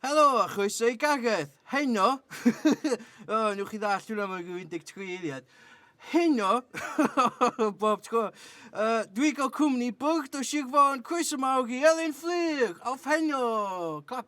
Helo a chroeso i Gareth! Heno o newch chi ddallt hwnna mewn ryw 13 eiliad. Heno bob tro yy dwi'n cael cwmni bwrdd o Sir Fôn, croeso mawr i Elin Fflur! Awff heno! Clap!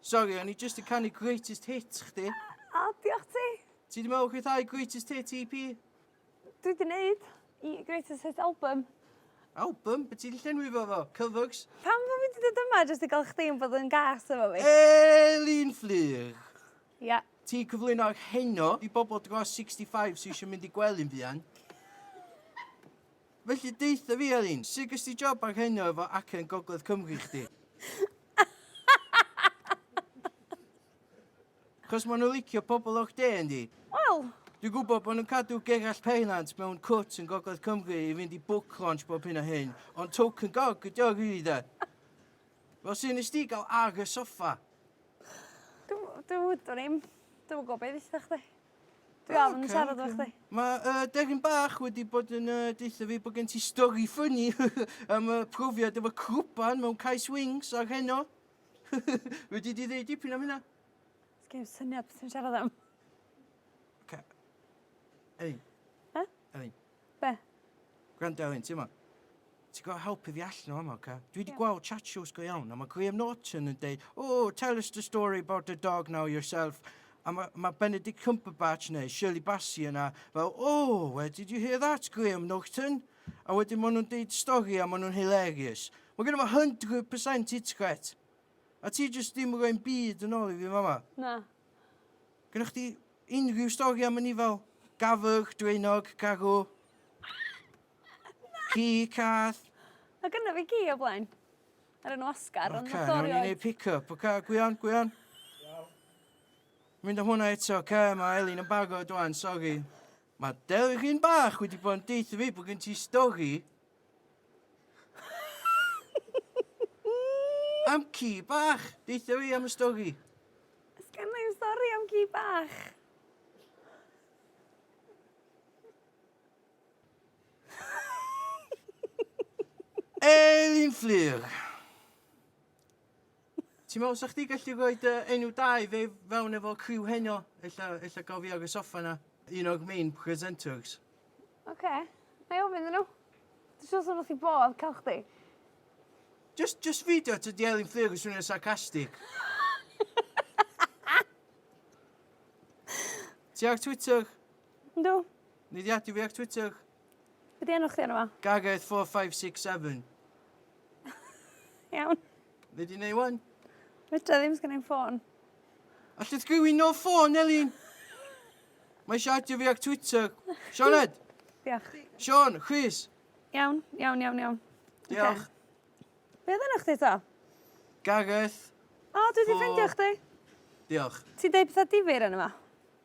Sori, o'n i jyst yn canu greatest hit chdi. O, diolch ti. Ti di meddwl chwithau greatest hit EP? Dwi di neud i greatest hit album. Album? Be ti di llenwi fo fo? Cyfygs? Pam fo fi di dod yma jyst i gael chdi yn bod yn gas efo fi? Elin Fflyr! Ia. Ti cyflwyno'r heno i bobl dros 65 sy'n eisiau mynd i gwely'n fuan. Felly deutha fi Elin, sut ges di job ar Heno efo acen Gogledd Cymru chdi? Chos ma' nhw licio pobl o'r de yndi? Wel, Dwi'n gwybod bod nhw'n cadw Gerallt Pennant mewn cwt yn Gogledd Cymru i fynd i book launch bob hyn a hyn, ond token gog ydi o rili de. Fel sut nes di gael ar y soffa? dw- dw- dwn i'm. Dwi'm yn gwybod be' dditha chdi. Dwi am yn siarad efo chdi. Mae uh, Derin Bach wedi bod yn uh, deutha fi bod gen ti stori ffynnu am y profiad efo crwban mewn cais wings ar heno. wedi di ddeud dipyn am hynna? Sgyn syniad beth sy'n siarad am. Okay. Elin. Huh? Elin. Be? Gwrando ar hyn, ti mo? Ti gorfod helpu fi allan o fama, oce? Okay? Dwi wedi yeah. gweld chat shows go iawn, a mae Graham Norton yn deud, oh, tell us the story about the dog now yourself. A mae ma Benedict Cumberbatch neu Shirley Bassey yna fel, oh, where did you hear that, Graham Norton? A wedyn maen nhw'n deud stori a maen nhw'n hilarious. Mae gen i fo 100% hit gret. A ti jyst ddim yn rhoi'n byd yn ôl i fi fama. Na. Gyda chdi Unrhyw stori am anifail? Gafr, draenog, garw? Ci, cath? Mae gynna fi gi o blaen. Ar enw Oscar, ond Oce, nawn ni neud pick-up. Oce, gwion, gwion. Mynd am hwnna eto, oce, mae Elin yn barod rwan, sori. Mae delgin bach wedi bod yn deutha fi bod gen ti stori am ci bach. Deutha fi am y stori. Sgan i'm stori am ci bach. Elin Fflur. Ti'n meddwl sa chdi gallu rhoi dy enw da i fe fewn efo criw heno? Ella, ella gael fi ar y soffa na, un o'r main presenters. Oce, okay. na i ofyn nhw. Dwi'n siŵr sy'n wrth i bodd cael chdi. Just, just feidio at y dielyn fflir yn swnio sarcastic. Ti ar Twitter? Yndw. Ni di ati fi ar Twitter? Be di enw chdi arno fo? Gareth 4567. Iawn. Be di neu wan? Fedra ddim sgan i'n ffôn. Alla ti gywin no ffôn, Elin? Mae eisiau adio fi ac Twitter. Sioned? Diolch. Sean, Chris. Iawn, iawn, iawn, iawn. Diolch. Okay. Be oedd yna chdi to? Gareth. O, dwi wedi ffeindio chdi. Diolch. Ti deud pethau difyr yn yma.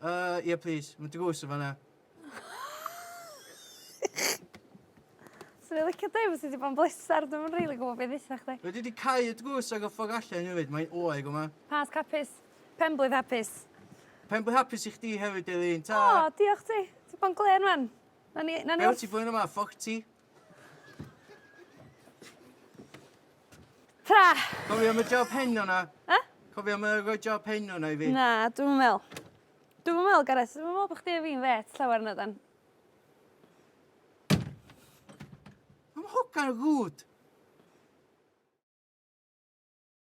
Yy ie plîs. Ma' dy goes yn fan 'na. Swn i licio deu' fysa di bo'n bleser dwi'm yn rili gwbo be' dditha chdi. Wel dwi 'di cau y drws ag y ffog allan efyd mae'n oer yma. Pasg hapus. Penblwydd hapus. Penblwydd hapus i chdi hefyd Elin. Tara. O diolch ti. Ti bo'n glên 'wan. Nawn ni nawn ni wr-... Be' wyt ti blwyddyn yma forty? Tara! Cofio am y job hen o 'na? E? Cofio am y roi job hen o 'na i fi? Na, dwi'm yn me'wl. Dwi'm yn me'wl Gareth, dwi'm yn me'wl bo' chdi a fi'n fêt llawer nadan? Ma'n hogan rwd!